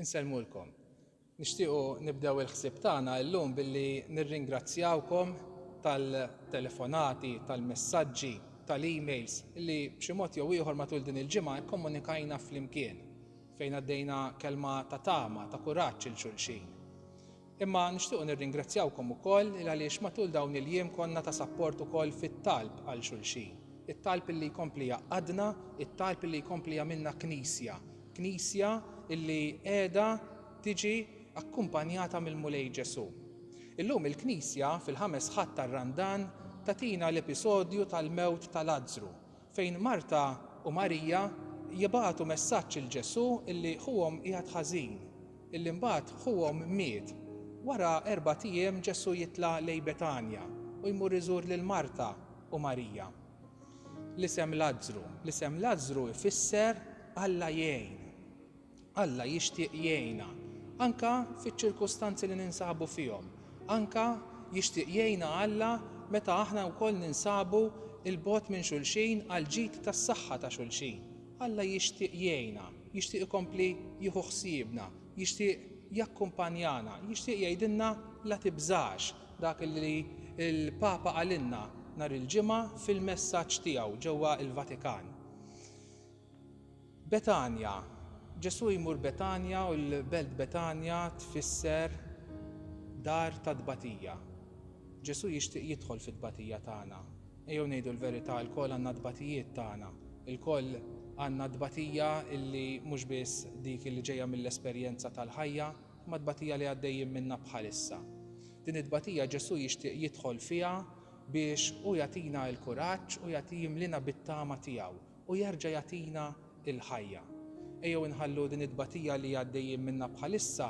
Insellmulkom. Nixtiequ nibdew il-ħsieb tagħna illum billi nirringrazzjawkom tal-telefonati, tal-messaġġi, tal-emails li b'xi mod jew ieħor matul din il-ġimgħa kkomunikajna flimkien, fejn għaddejna kelma ta' tama, ta' kuraġġ 'il xulxin. Imma nixtiequ nirringrazzjawkom ukoll il-għaliex matul dawn il-jiem konna ta' sapport ukoll fit-talb għal xulxin. It-talb illi jkompli jgħaqqadna, it-talb illi jkompli jagħmilna Knisja. Knisja illi qiegħda tiġi akkumpanjata mill-Mulej Ġesù. Illum il-Knisja, fil-Ħames Ħadd tar-Randan, tagħtina l-episodju tal-mewt ta' Lazzru fejn Marta u Marija jibagħtu messaġġ 'il Ġesù illi ħuhom qiegħed ħażin, illi mbagħad ħuhom miet. Wara erbat ijiem Ġesù jitla' lejn Betanja u jmur iżur lil Marta u Marija. L-isem Lazzru L-isem Lazzru jfisser Alla jgħin. Alla jixtieq jgħinna, anke fiċ-ċirkustanzi li ninsabu fihom. Anke jixtieq jgħinna Alla meta aħna wkoll ninsabu 'l bogħod minn xulxin għall-ġid tas-saħħa ta' xulxin. Alla jixtieq jgħinna, jixtieq ikompli jieħu ħsiebna, jixtieq jakkumpanjana, jixtieq jgħidilna la tibżax, dak li l-Papa qalilna nhar il-Ġimgħa fil-messaġġ tiegħu ġewwa l-Vatikan. Betanja, Ġesù jmur Betanja u l-belt Betanja tfisser dar ta' tbatija. Ġesù jixtieq jidħol fit-tbatija tagħna. Ejjew ngħidu l-verità, ilkoll għandna t-tbatijiet tagħna. Ilkoll għandna t-tbatija li mhux biss dik li ġejja mill-esperjenza tal-ħajja, imma t-tbatija li għaddejjin minnha bħalissa. Din it-tbatija Ġesù jixtieq jidħol fiha biex hu jagħtina l-kuraġġ u jagħti jimliena bit-tama tiegħu. U jerġa' jagħtina l-ħajja. Ejjew inħallu din it-tbatija li għaddejjin minnha bħalissa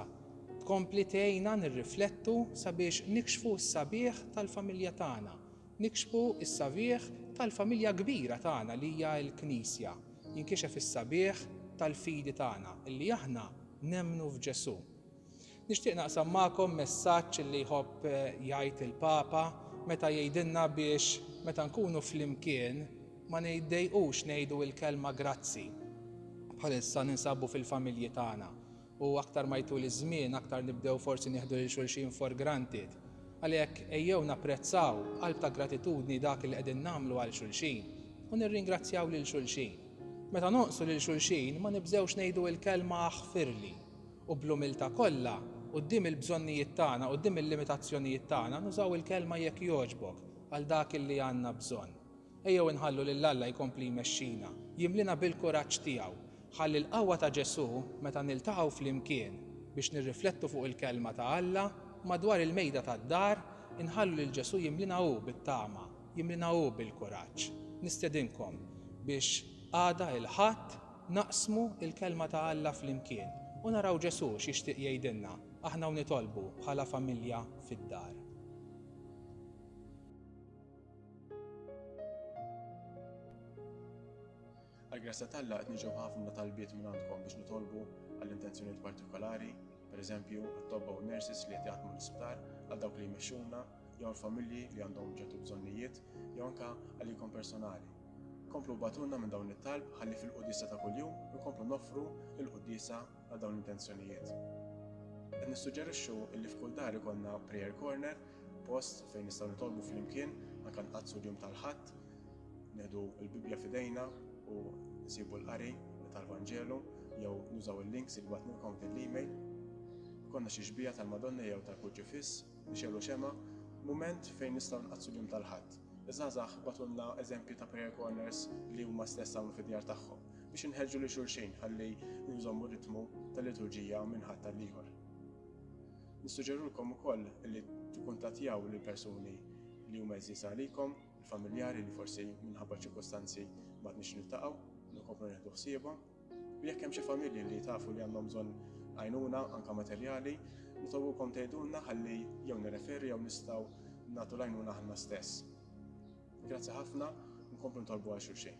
tkompli tgħinna nirriflettu sabiex nikxfu s-sabiħ tal-familja tagħna, nikxfu s-sabiħ tal-familja kbira tagħna li hija l-Knisja, jinkixef is-sabiħ tal-fidi tagħna, li aħna nemmnu f'Ġesù. Nixtieq naqsam magħkom messaġġ li jħobb jgħid il-Papa meta jgħidilna biex meta nkunu flimkien ma niddejqux ngħidu l-kelma grazzi. Bħalissa ninsabu fil-familji tagħna u aktar ma jtul iż-żmien aktar nibdew forsi nieħdu lil xulxin for granted. Għalhekk ejjew napprezzaw b'qalb ta' gratitudni dak li qegħdin nagħmlu għal xulxin u nirringrazzjaw lil xulxin. Meta nonqsu lil xulxin ma nibżgħux ngħidu l-kelma aħfirli u bl-umiltà kollha, quddiem il-bżonnijiet tagħna, quddiem il-limitazzjonijiet tagħna, nużaw il-Kelma jekk jogħġbok għal dak li għandna bżonn. Ejjew inħallu lil Alla jkompli jmexxina, jimliena bil-kuraġġ tiegħu, ħalli l-qawwa ta' Ġesù, meta niltaqgħu flimkien biex nirriflettu fuq il-Kelma ta' Alla, madwar il-mejda tad-dar, inħallu lil Ġesù jimliena hu bit-tama, jimliena hu bil-kuraġġ. Nistedinkom biex għada, il-Ħadd, Naqsmu l-Kelma ta' Alla flimkien u naraw Ġesù x'jixtieq jgħidilna aħna u nitolbu bħala familja fid-dar. Għall-grazzja t'Alla qed niġu b'ħafna talbiet minn għandkom biex nitolbu għal intenzjonijiet partikolari, pereżempju, għat-tobba u n-nurses li qed jaħdmu l-isptar, għal dawk li jmexxuna, jew għal familji li għandhom ċertu bżonnijiet jew anke għalikom personali. Komplu bbatulna minn dawn it-talb ħalli fil-qudisa ta' kuljum inkomplu noffru l-qudisa għal dawn l-intenzjonijiet. Qed nissuġġerixxu li f'kull dar ikollna prayer corner, post fejn nistgħu nitolbu flimkien anke nqaddsu l-jum tal-Ħadd, neħdu l-Bibbja f'idejna u nsibu l-qari tal-Vanġelu jew nużaw il-links li batnilkom fil-email. Konna xi xbija tal-Madonna jew tal-Kurġifiss Michelle u Shema, Mument fejn nistgħu nqaddsu l-jum tal-Ħadd. Iż-żgħażagħ bagħtulna eżempji ta' prayer corners li huma stess għamlu fid-djar tagħhom biex inħeġġu lil xulxin ħalli nżommu r-ritmu tal-liturġija minn Ħadd għall-ieħor. Nissuġġerilkom ukoll li tikkuntattjaw lil persuni li huma għeżież għalikom, il-familjari li forsi minħabba ċirkostanzi ma tnix niltaqgħu, nkomplu nieħdu ħsiebhom. U jekk hemm xi familji li tafu li għandhom bżonn għajnuna anke materjali, nitolbukom tgħidulna ħalli jew nirreferu jew nistgħu nagħtu l-għajnuna aħna stess. Grazzi ħafna u nkomplu nitolbu għal xulxin.